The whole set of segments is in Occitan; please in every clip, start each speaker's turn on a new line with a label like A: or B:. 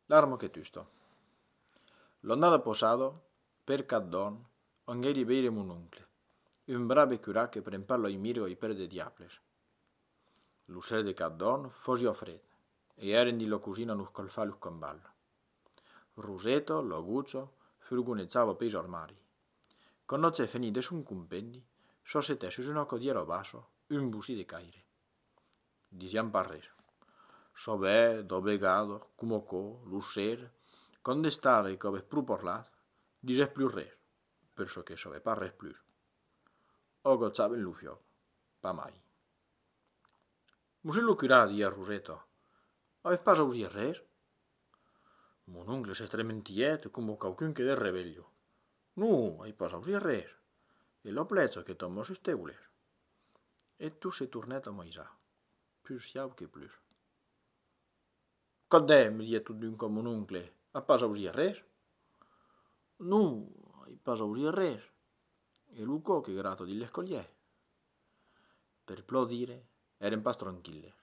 A: L'armo que tusto. L'onnada posado per qu'ath dòn ongèri veire mon oncle, un brave curat que pren pas loi mirgo i per de diables. Lo ser de qu'ath dòn fosi ò fred, e èren dins lo cosin a nos colfar los combals. Roseto, lo gucho, furgonejava ò peis armari. Quand no c'è fenit de son compendi, sosetè sus una codièra ò basso, un bocí de caire. disián pas res. Sovè, dos vegados, com oco, lo ser, quand d'estare que avès pro parlat, disès plus res, per çò que sovè pas res plus. Ò gotzaven lo fiòc, pas mai. Mosé lo curà, dies Roseta, avès pas ausies res? Mon oncle s'estrementiet como quauqu'un que de revelho. Non, ai pas ausies res. E lo plezo que tomò sus teules. E tot se tornèt a amaisar, pus siau que plus. Qu'a dèr? me didec totun qua mon oncle, a pas ausit arrés? Non, ai pas ausit arrés, e lo cò que grata dins l'escolièr. Per plò dire, èrem pas tranquilles.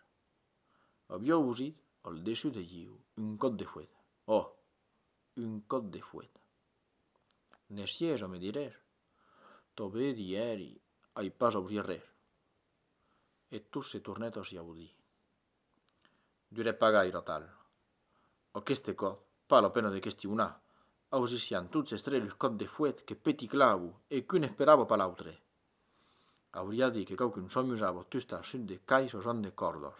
A: Aviá ausit, al dessus de ieu, un còp de fuet. Ò! un còp de fuet. Ne sies a me direr. Tobé dièri, ai pas ausi rer. E tot se tornèt a siaudí. Durè pas gaire atal. Aqueste còp, pas la pena de questionar, ausissián tots es tres lus còps de fuet que peti clavo e qu'un esperava pas l'autre. Auriá dit que quauqu'un s'amusava a tustar sut de cais o jant de còrdas.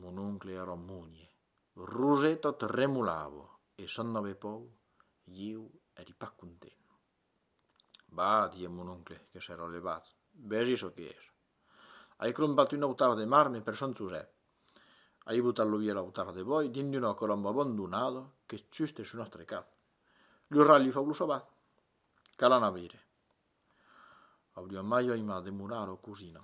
A: Mon oncle a lo munie. Roseta tremolavo e s'an n'avè pòu, ieu èri pas content. Bah, die mon oncle que s'èra levat, vesi çò que es. Ai crompat un autar de marme per Sant Josep. Ai botat lo vièlh autar de bòi dins d'una colomba abandonada qu'es juste sus nòstre cap. Lo rat li fau lo sabat. Cal anar veire. Auria mai aimà demorar a lo cosina.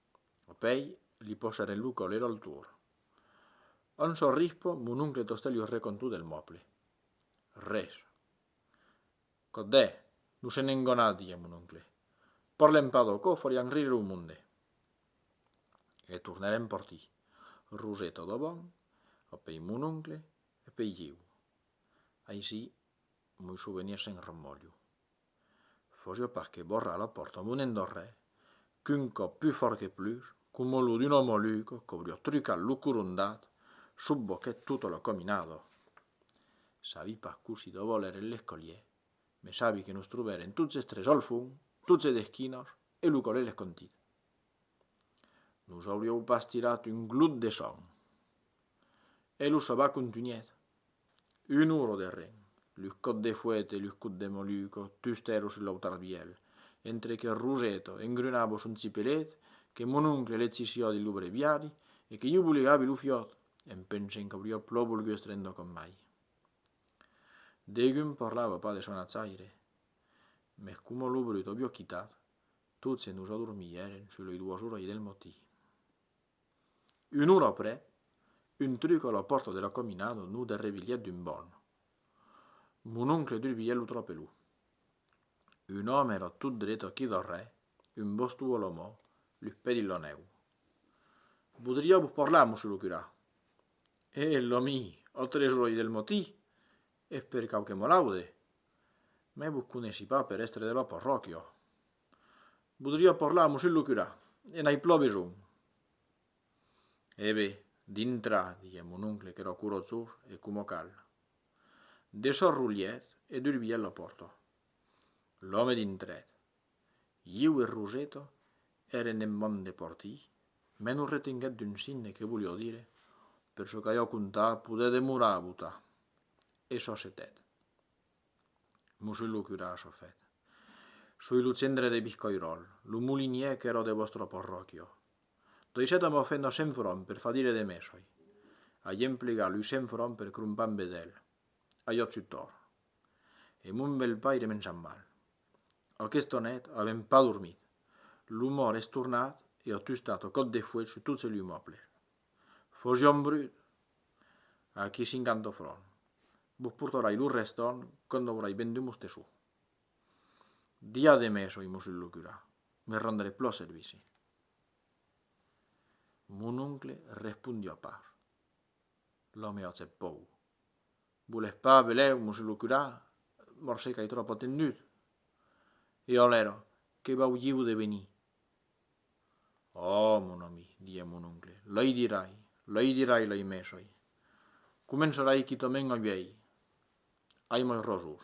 A: Apèi, li posharè lo collet al tor. Un sol rispo, mon oncle Tostè li aurè contou del mòble. Res. Codè, non se n'engona, diguèt mon oncle. Parlem pas d'aquò, farián rire lo monde. E tornèrem partir. Roseta davant, apèi mon oncle, apèi ieu. Aicí, moi souvenir se'n remòlho. Fòja pas que borra la pòrta mon endorrè, qu'un còp pus fòrt que plus, coma lo d'un omolugo qu'auria trucat lo corondat, subboquèt tota la cominada. Sabi pas cossí de vòl èren les colhiers, mès sabi que nos trobèren tots es tres al fum, tots es d'esquinas, e lo colher les contit. Nos aurieu pas tirat un glut de son. E lo sabat contunhèt. Un oro de ren, lu còt de fuet e lu cut de moluco tustèro sus lo tarbièl, entre que Roseto engrunava son cipelet, que mon oncle l'etsissiò dins lo breviari e que ieu bolegavi lo fiòt, en pensent qu'auriò plò volgut estrendor com mai. Degun parlava pas de son atzaire, mès coma lo brut aviò quitat, Tot se nos adormièren sus lei doas orai del matí. Una ora après, un truc a la pòrta de la caminada nos derrevilhèt d'un bòn. Mon oncle durbièt lo trapelon. Un òme èra tot dret aquí darrèr, un baston a la man, los pès dins la nèu. Vodriá vos parlar, monsieur lo curà. Eeh, l'ami, a tres orai del matí? Eth per cau que m'o laude. Mès vos coneissi pas per èstre de la parròquia. Vodria parlar a Mosén lo curà, e n'ai plan besonh. Ebe, dintra, diguec mon oncle qu'era corotjós e coma cal. Desarrolhèt e durbièt la pòrta. L'òme dintrèt. Ieu e Roseto èren en mon de porti, me non retenguèt d'un signe que volió dire, per çò qu'aió contar podè demorar a botar. E çò s'etèt. Mos soi lo curà Sofèt. Soi lo cendre de Biscoiròl, lo molinièr qu'èro de vòstra porròquio. Doisèt amor fèt nos cent fròns per far dire de me soi. Ai emplegat lus cent fròns per crompar en vedèl. Aió tutor. E mon bèl paire m'en sap mal. Aquesta net avèm pas dormit. Lo mòrt es tornat e a tustat a còp de fuèch sus tot se lu mòble. Fogion brut! Aquí cinquanta fròn. Vos portarai lo restorn quand aurai vendut mos tesors. Dia de mes oi mossut lo curà, me rendré plan servici. Mon oncle respondió pas. L'òme acceptó. Volètz pas, velèu mos lo curar? Morse qu'ai tròp atendut. E alèra, que vaulieu de venir? Oh, mon ami, didie mon oncle, lei dirai, lei dirai lei mesai. Començarai quitament a viei. Ai mai ròsos.